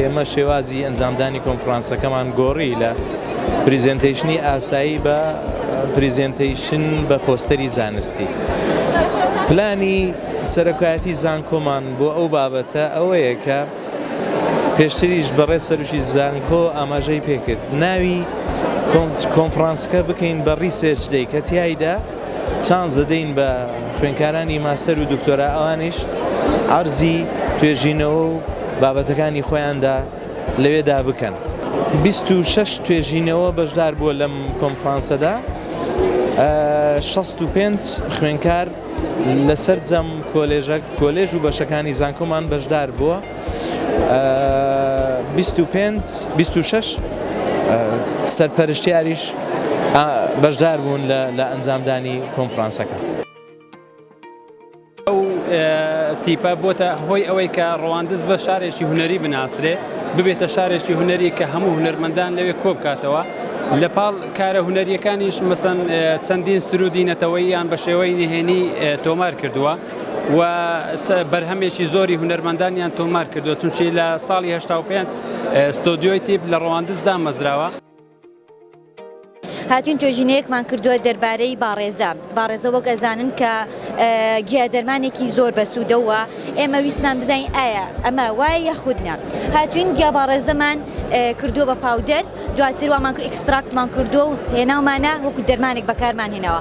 ئێمە شێوازی ئەنجامدانی کۆنفرانسەکەمان گۆڕی لە پریزنتیشنی ئاسایی بە پریزنتیشن بە پۆستەری زانستی پلانی سەرکایەتی زانکۆمان بۆ ئەو بابەتە ئەوەیە کە پێشتریش بەڕێ سەرشی زانکۆ ئاماژەی پێکرد ناوی کۆنفرانسەکە بکەین بە ڕیسێچ دەی کە تایدا چانس دەدەین بە خوێندکارانی ماستەر و دکتۆرا ئەوانیش عەرزی توێژینەوە و بابەتەکانی خۆیاندا لەوێدا بکەن. بیست و شەش توێژینەوە بەشدار بووە لەم کۆنفرانسەدا، شەست و پێنج خوێندکار لە سەرجەم کۆلێژ و بەشەکانی زانکۆمان بەشدار بووە. بیست و پێنج بیست و شەش سەرپەرشتیاریش بەشدار بوون لە ئەنجامدانی کۆنفرانسەکە. ئەو تیپە بۆتە هۆی ئەوەی کە ڕواندز بە شارێکی هونەری بناسرێ ببێتە شارێکی هونەری کە هەموو هونەرمەندان لەوێ کۆ بکاتەوە لە پاڵ کارە هونەریەکانیش مەسەن چەندین سرودی نەتەوەییان بە شێوەی نهێنی تۆمار کردووە. و بەرهەمێکی زۆری هونەرمەندانیان تۆمار کردووە چونچی لە ساڵی هشتا و پێنج ستۆدیۆی تیپ لە ڕەواندز دامەزراوە. هاتوین توێژینەیەکمان کردووە دەربارەی باڕێزە باڕێزە وەک ئەزانن کە گیا دەرمانێکی زۆر بەسوودەوە ئێمە ویستمان بزانین ئایا ئەمە وایە یاخودنا هاتوین گیا باڕێزەمان کردووە بە پاودەر دواتر وامان ئیکستراکتمان کردو و هێناومانە وەکو دەرمانێک بەکارمان هێناوە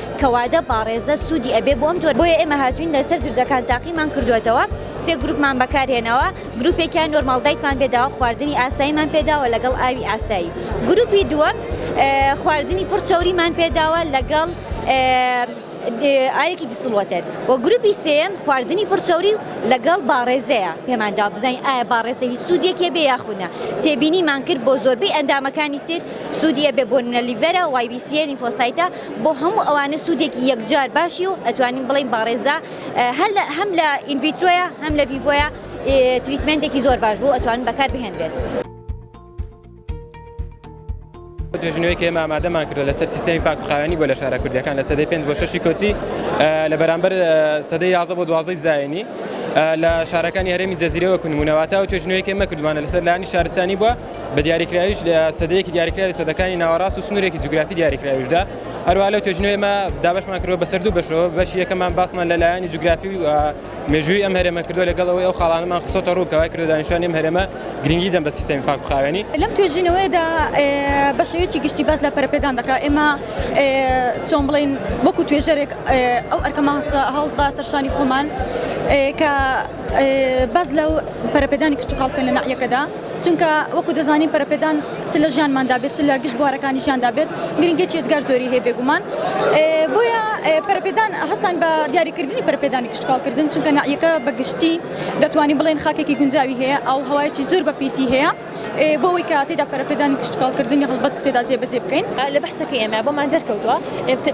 کەوادە باڕێزە سودی ئەبێ بۆ ئەم جۆرە بۆیە ئێمە هاتوین لەسەر جرجەکان تاقیمان کردوەتەوە سێ گروپمان بەکار هێناوە گروپێکیان نۆرماڵ دایتمان پێ داوە خواردنی ئاساییمان پێ داوە لەگەڵ ئاوی ئاسایی گروپی دووەم خواردنی پڕ چەوریمان پێ داوە لەگەڵ ئاوێکی دیسڵوەتەر و گروپی سێم خواردنی پڕچەوری و لەگەڵ باڕێزەیە پێماندا بزانین ئایا باڕێزەی سوودێکێ بێ یاخودە تێبینیمان کرد بۆ زۆربەی ئەندامەکانی تر سوودیە بێ بۆنە لیڤەرە وایبیسیە لیفۆسایتە بۆ هەموو ئەوانە سوودێکی یەکجار باشی و ئەتوانین بڵێین باڕێزە هەم لە ئینڤیترۆیە هەم لە ڤیڤۆیە تریتمێنتێکی زۆر باش بوو ئەتوانن بەکار بهێنرێت. توێژینەوەیەکی ئێمە ئامادەمان کردو لەسەر سیستمی پاکخاوێنی بۆ لە شارە کوردەکان لە سەدەی پێنج بۆ شەشی کۆچی لە بەرامبەر سەدەی یازە بۆ دوازەی زایانی لە شارەکانی هەرێمی جەزیرەوە کونمونەواتە و توێژنەوەیەکی ئێمە کردوانە لەسەر لانی شارستانی بووە بە دیاریکراویش لە سەدەیەکی دیاریکراوی سەدەکانی ناوەڕاست و سنوورێکی جوگرافی دیاریکراویشدا هەروە لەو توێژنەوەی مە دابشمان کردوە بەسەر دوو بەشەوە بەشی یەکەمان باسمان لە لایەنی جوگرافی و مێژووی ئەم هەرێمە کردو لەگەڵەوەی ئەو خاڵانەمان خسۆتە ڕووکەوای کردو دانیشانی ئەم هەرێمە گرنگی دەم بە سیستەمی پاک و خاوێنی لەم توێژینەوەیەدا بە شێوەیەکی گشتی باس لە پەرەپێدان دەکا ئێمە چۆن بڵین وەکو توێژەرێک ئەو ئەرکەمان هەڵدا سەرشانی خۆمان کە باس لەو پەرەپێدانی کشتتوکاڵکە لە ناحیەکەدا چونکە وەکو دەزانین پەرەپێدان چ لە ژیانماندا بێت چ لە گشت بوارەکانی ژیاندا بێت گرنگێکی ئێجگار زۆری هەیە بێگومان بۆیە پەرەپێدان هەستان بە دیاریکردنی پەرپێدانی کشتکاڵکردن چونکە نعیەکە بەگشتی دەتوانین بڵێن خاکێکی گونجاوی هەیە ئەو هەوایەکی زۆر بەپیتی هەیە بۆەوەی کە تێدا پەرەپێدانی کشتکاڵکردنی هەڵبەت تێدا جێبەجێ بکەین لە بەحسەکە ئێمە بۆمان دەرکەوتووە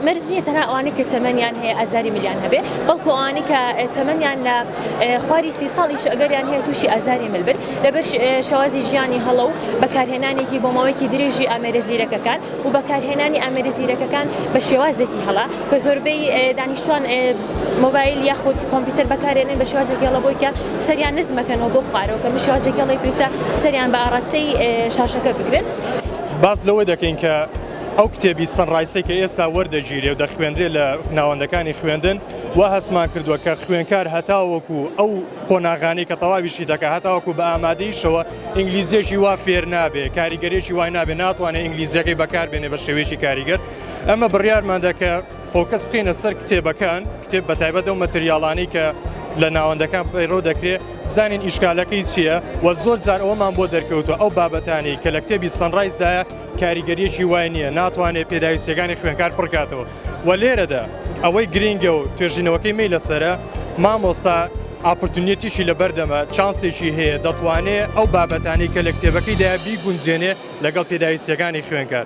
مەرج نیە تەنها ئەوانەی کە تەمەنیان هەیە ئازاری ملیان هەبێ بەڵکو ئەوانەی کە تەمەنیان لە خواری سی ساڵیش ئەگەریان هەیە تووشی ئازاری مل بن لەبەر شێوازی ژیانی هەڵە و بەکارهێنانێکی بۆ ماوەیەکی درێژی ئامێرە زیرەکەکان و بەکارهێنانی ئامێرە زیرەکەکان بە شێوازێکی هەڵە کە زۆربەی دانیشتوان مۆبایل یاخود کۆمپیوتەر بەکارێنن بە شێوازێکی هەڵە بۆی کە سەریان نزمەکەنەوە بۆ خوارەوە کە شێوازێکی هەڵی پێویستە سەریان بە ئاراستەی شاشەکە بگرن. باس لەوە دەکەین کە ئەو کتێبی سەنڕایسی کە ئێستا وەردەگیرێ و دەخوێنرێ لە ناوەندەکانی خوێندن و هەستمان کردووە کە خوێنکار هەتاوەکو ئەو قۆناغانەی کە تەواوی شی دەکات هەتاوەکو بە ئامادەیشەوە ئینگلیزیەکی وا فێر نابێ کاریگەرێکی وای نابێ ناتوانێت ئینگلیزیەکەی بەکاربێنێ بە شێوەیەکی کاریگەر ئەمە بڕیارماندا کە فۆکەس بخینە سەر کتێبەکان کتێب بە تایبەت و مەتریاڵانی کە لە ناوەندەکان پەیڕۆ دەکرێت بزانین ئیشکالەکەی چییە و زۆر جار ئەومان بۆ دەرکەوتو ئەو بابەتانی کە لە کتێبی سەنڕایزدایە کاریگەریەکی وای نییە ناتوانێت پێداویستەکانی خوێنکار پڕکاتەوە وە لێرەدا ئەوەی گرینگە و توێژینەوەکەی مەی لەسەرە مامۆستا ئاپرتونیەتیی لەبەردەمە چانسێکی هەیە دەتوانێ ئەو بابەتانەی کە لە کتێبەکەیدا بیگونجێنێ لەگەڵ پێداویستییەکانی خوێنکار